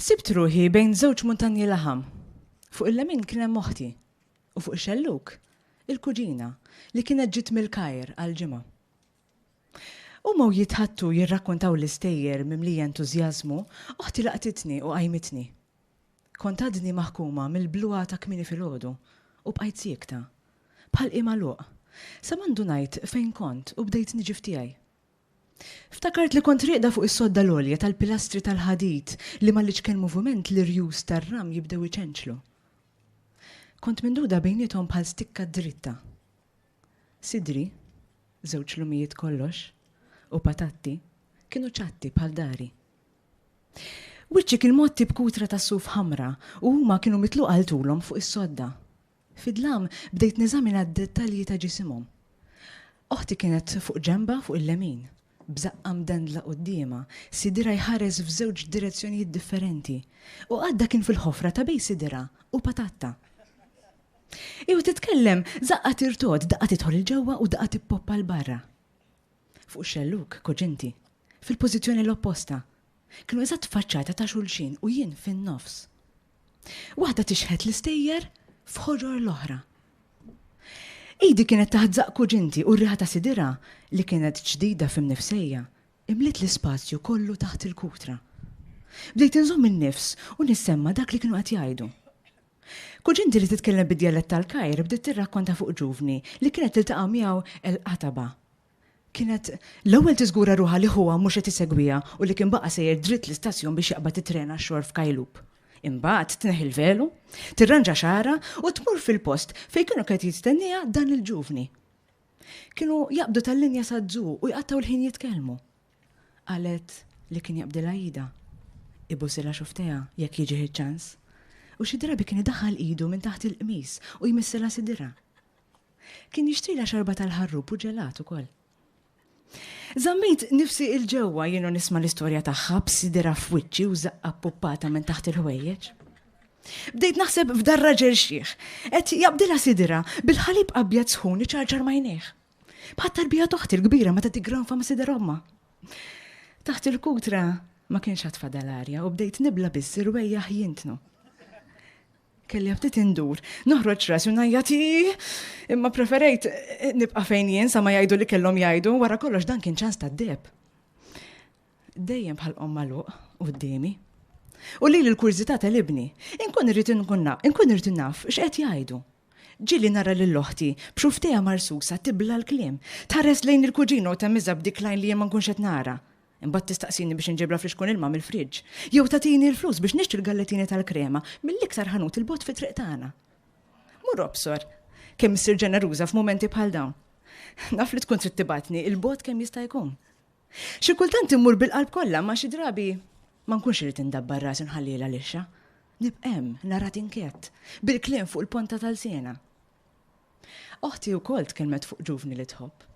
Sibt ruħi bejn żewġ muntanji laħam. Fuq il-lemin kien hemm oħti u fuq ix-xellug il-kuġina li kienet ġiet mill-Kajr għall-ġimgħa. Huma u jitħaddtu jirrakkontaw l-istejjer mimlija entużjażmu, oħti laqtitni u qajmitni. Kont għadni maħkuma mill-bluha ta' kmieni filgħodu u bqajt siekta, bħal qie magħluq, sa ma ndunajt fejn kont u bdejt niġi f'tiegħi. Ftakart li kont rieqda fuq is-sodda l-għolja tal-pilastri tal-ħadid li mal-iċken moviment l-irjus tar-ramj bdew iċenċlu. Kont mingħduda bejniethom bħal stikka dritta. Sidri, żewġ lumijiet kollox, u patatti, kienu ċatti bħal dari. Wiċċi kien mgħotti b'kutra tas-suf ħamra u huma kienu mitluqa 'l tulhom fuq is-sodda. Fid-dlam bdejt neżamina d-dettalji ta' ġisimhom. Oħti kienet fuq ġenbha fuq il-lemin, b'żaqqha mdendla quddiemha, sidirha jħares f'żewġ direzzjonijiet differenti, u qaddha kien fil-ħofra ta' bejn sidirha u patatta. Hi u titkellem, żaqqha tirtod, daqqa tidħol 'il ġewwa u daqqa tippoppa 'l barra. Fuq ix-xellug, kuġinti, fil-pożizzjoni l-opposta. Kienu eżatt faċċata ta' xulxin u jien fin-nofs. Waħda tixħet l-istejjer f'ħorror l-oħra. Idi kienet taħt zaq kuġinti u r-riħa ta' sidira li kienet ġdida f'imnifsejja imliet l-ispazju kollu taħt il-kutra. Bdejt inżomm in-nifs u nissemma dak li kienu qed jgħidu. Kuġinti li titkellem bid-djalett tal-Kajr bdiet tirrakkonta fuq ġuvni li kienet tiltaqa' miegħu l-qataba Kienet l-ewwel tiżgura ruħha li ħuha mhux qed isegwiha u li kien baqa' sejjer dritt l-istazzjon biex jaqbad it-tren għax-xogħol f'Kajlup. Imbagħad tneħħi l-velu, tirranġa xagħarha u tmur fil-post fejn kienu qed jistennieha dan il-ġuvni. Kienu jaqbdu tal-linja saz-Zoo u jqattgħu l-ħin jitkellmu. Qalet li kien jaqbdilha idha, ibusilha xufftejha jekk jiġih iċ-ċans, u xi drabi kien idaħħal idu minn taħt il-qmis u jmissilha sidirha. Kien jixtrilha xarba tal-ħarrub u ġelat ukoll. Zammejt nifsi il-ġewwa jienu nisma l-istorja tagħha b'sidera f'wiċċi u zaqqa puppata minn taħt il-ħwejjeġ. Bdejt naħseb f'dar raġel xieħ, qed jaqbdilha sidira bil-ħalib abjad sħun iċarċar majnejh. Bħat tarbija toħti l-kbira meta tigranfa ma' sidera omma. Taħt il-kutra ma kienx għatfa dal-arja u bdejt nibla biss irwejjaħ jintnu. Kelli ftit indur, noħroġ rasi u ngħajjat imma preferejt nibqa' fejn jien sa ma jgħidu li kellhom jgħidu wara kollox dan kien ċans tad-deb. Dejjem bħal qom magħluq qudiemi. U li l-kurżità tal-ibni, inkun irrid inkun inkun irrid naf x'qed jgħidu. Ġili nara lil oħti b'xufteja marsusa tibla l-kliem, tħares lejn il-kuġina u temiża b'dik lajn li jien ma nkunx qed nara. Imbagħad tistaqsini biex inġiblha friskun ilma mill-friġġ. Jew tagħtini l-flus biex nixtri l-galletini tal-krema mill-iktar ħanut il-bot fi triq tagħna. Mur obsor, kemm issir ġeneruża f'mumenti bħal dawn. Naf li tkun trid tibatni il-bot kemm jista' jkun. Xi kultant immur bil-qalb kollha ma xi drabi ma nkunx irid indabbar ras inħalliela lixxa. Nibqem, nara tinkett, bil-kliem fuq il-ponta tal-sena. Oħti wkoll tkellmet fuq ġuvni li tħobb.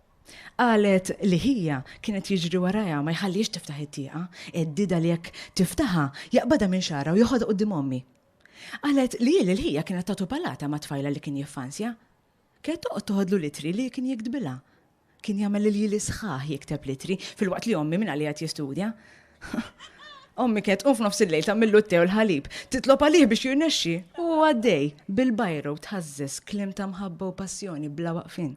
Qalet li ħija kienet jiġri warajha ma jħallihiex tiftaħ it-tieqa, heddidha li jekk tiftaħha jaqbadha minn xagħarha u joħodha quddiem ommi. Qalet li hi lil ħija kienet tagħtu palata mat-tfajla li kien jiffansja. Kienet toqgħod toħodlu l-ittri li kien jiktbilha. Kien jagħmel il-jili sħaħ jikteb litri, filwaqt li ommi minn għalija jistudja. Ommi kienet tqum f'nofs il-lejl tagħmillu t-te u l-ħalib, titlob għalih biex jirnexxi. U għaddej, bil-bajra u tħażżeż kliem ta' mħabba u passjoni bla waqfin.